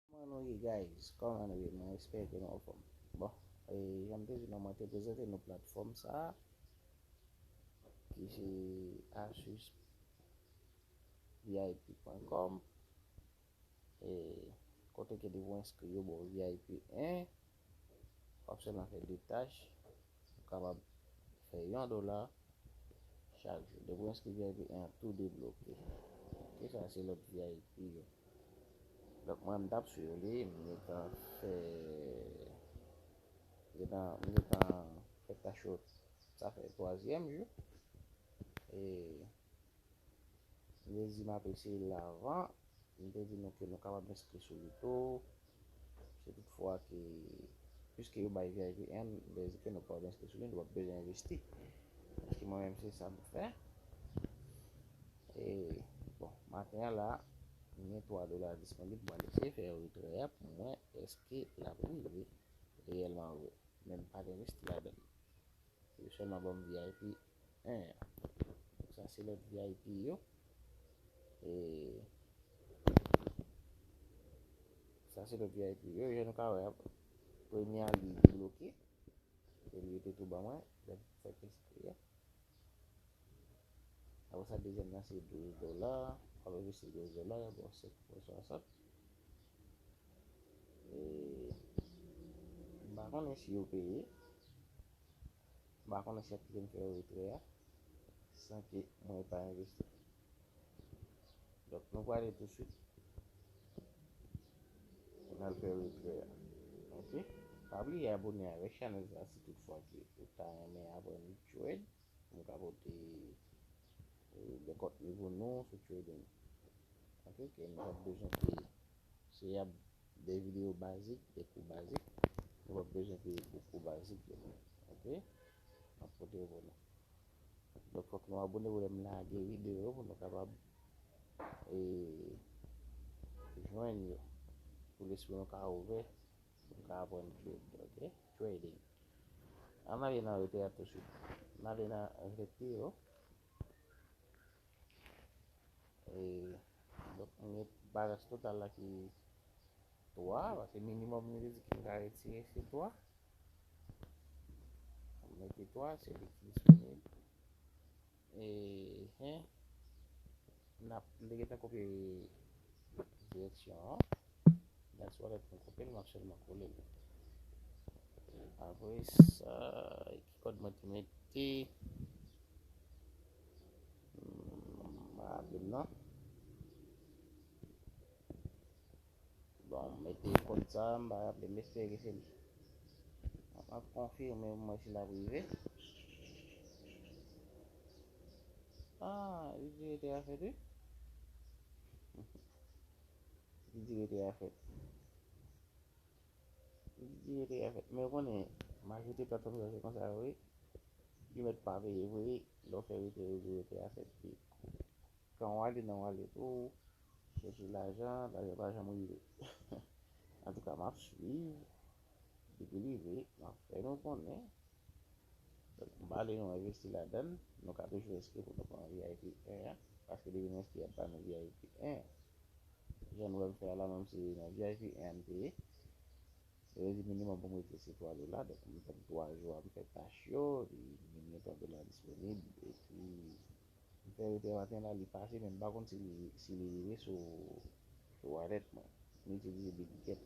Kòman nou ye guys kòman nou ye mwen espere ke nou anfòm bon janm te di nou mwen te prezante nou platfòm sa ki se asus vip pwen kòm e kote ke depi ou enskri yo ba ou vip 1 Wap selman fè 2 tach, ou kapab fè yon dola chak jou. Depi ou enskri vip 1 an tou debloke. Ok sa se lòt vip yo. Donk mwen m tap swiv li, m gentan fè m gentan fè tach yo sa fè 3 zyèm jou. E Mezi map eseye la avan, m te di nou ke nou kapab enskri sou li tou, si tout fwa ke, piske yo bay vip 1, m te di ke nou kapab enskri sou li, nou pap bezwen envesti, paske mwen menm se sa m fè, e bon, maten an la, m gen 3 dola disponib, mwen eseye fè yon retrè a pou m wè eske lap rive reyèlman vre, men m pat envesti ladan li. Yo sèlman banm vip 1 an. Sa se lòt vip yo. E Sa se lòt vip yo. Jan nou ka wè premye a li bloke. E li te tou ban mwen. Lèm fè pespri a. Apre sa dezyèm nan se 12 dola. Apre sa se 12 dola. Bon se pou 60. Eee m pa konnen si yo peye, m pa konnen si yo ap kite m fè retrè a san ke mwen pa envesti. Donk nou prale tou swit pou n al fè retrè a. Ok, pa bliye abone avèk chanèl sa si tout fwa ke ou ta renmen aprann trade. Nou ka pote dekòt nivo nou sou trading. Ok ke nou pa bezwen peye. Se yap de video bazik, de kou bazik. Nou pa bezwen peye pou kou bazik yo. Ok. Map pote yo pou nou. Donk fòk nou abone pou lèm lage video pou nou kapab e jwenn yo. Pou lespri nou ka ouvè pou nou ka aprann trade. Ok. trading. Ann ale nan rete a tousuit. Ann ale nan rete yo. E donk mwen gen balans total la ki 3 pase minimum li te di ki m ka retire se 3. Mwen mete 3 se li ki disponible. Eeh eeh nap m te gentan kopye direksyon an dat se wòlèt mwen kopyel map sèlman kolel apresa ki kòd mwen te mete m pa raple'm nan. Bon m mete kòd sa m pa raple m espere ke se li m ap konfime pou m wè si l ap rive ah li di rete a fèt wi li di rete a fèt li di rete a fèt men ou konnen majorite platfòm sa se konsa yo ye yo mèt pa peye vre lè w fè rete yo di rete a fèt kan w ale nan wallet ou Chèche lajan, lajan pa janm rive. Antouka map swiv, depi li rive map fè nou konnen. M pa di nou envesti ladann, nou ka toujou enskri pou nou pran vip 1 an, paske depi nou enskri yap ba nou vip 1 an. Jan nou wè m fè a la menm se nan vip 1 an m te ye, yo te di minimòm pou m rete se 3 dola, donk m tann 3 jou a m fè tach yo, epi minimòm 3 dola disponib epi. M fè rete maten la li pase men m pa konn si li rive sou wallet mwen. M itilize Bitget.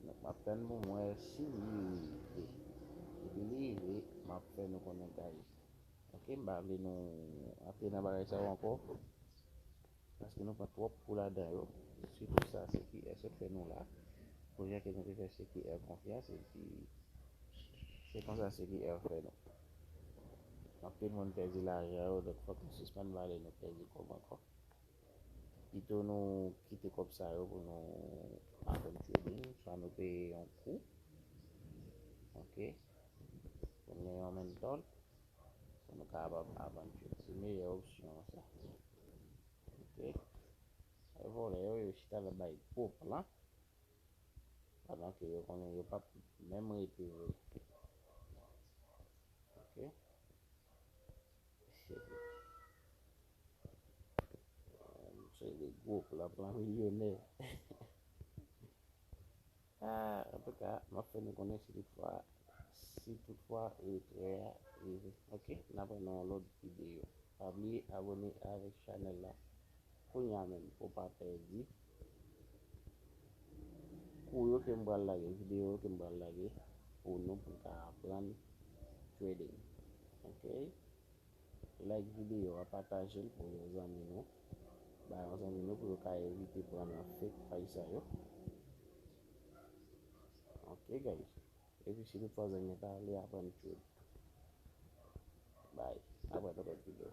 Donk map tann pou m wè si li rive. Depi li rive map fè nou konnen guys. Ok m pa vle nou antre nan bagay sa yo ankò. Paske nou pran twòp kou ladan yo. Sitou sa CQR sot fè nou la. Kounye ke nou te fè CQR konfyans epi se konsa CQR fè nou. Anpil moun pèdi lajan yo donk fòk nou sispann pale nou pèdi kòb ankò. Pito nou kite kòb sa yo pou nou aprann trading swa nou peye yon kou ok pou nou gen yon menntòl pou nou kapab avanse se meyè opsyon an sa ok e vòlè yo yo chita la bay gwo plan pandan ke yo konnen yo pap menm rete vre ok se pou se de gwo plan plan milyonè. A, antouka, m ap fè nou konnen si toutfwa, si toutfwa retrè a rive. Ok, n aprann nan yon lòt videyo. Pa bliye abone avèk chanèl la kounya menm pou w pa pèdi kou yo ke m pral lage, videyo yo ke m pral lage pou nou pou n ka aprann trading. Ok, Like videyo a pataje l pou yon zanmi nou ba yon zanmi nou pou yo ka evite pran nan fake paj sa yo ok guys epi si nou pa zanmi pa ale aprann trade bye aprè nan lòt videyo.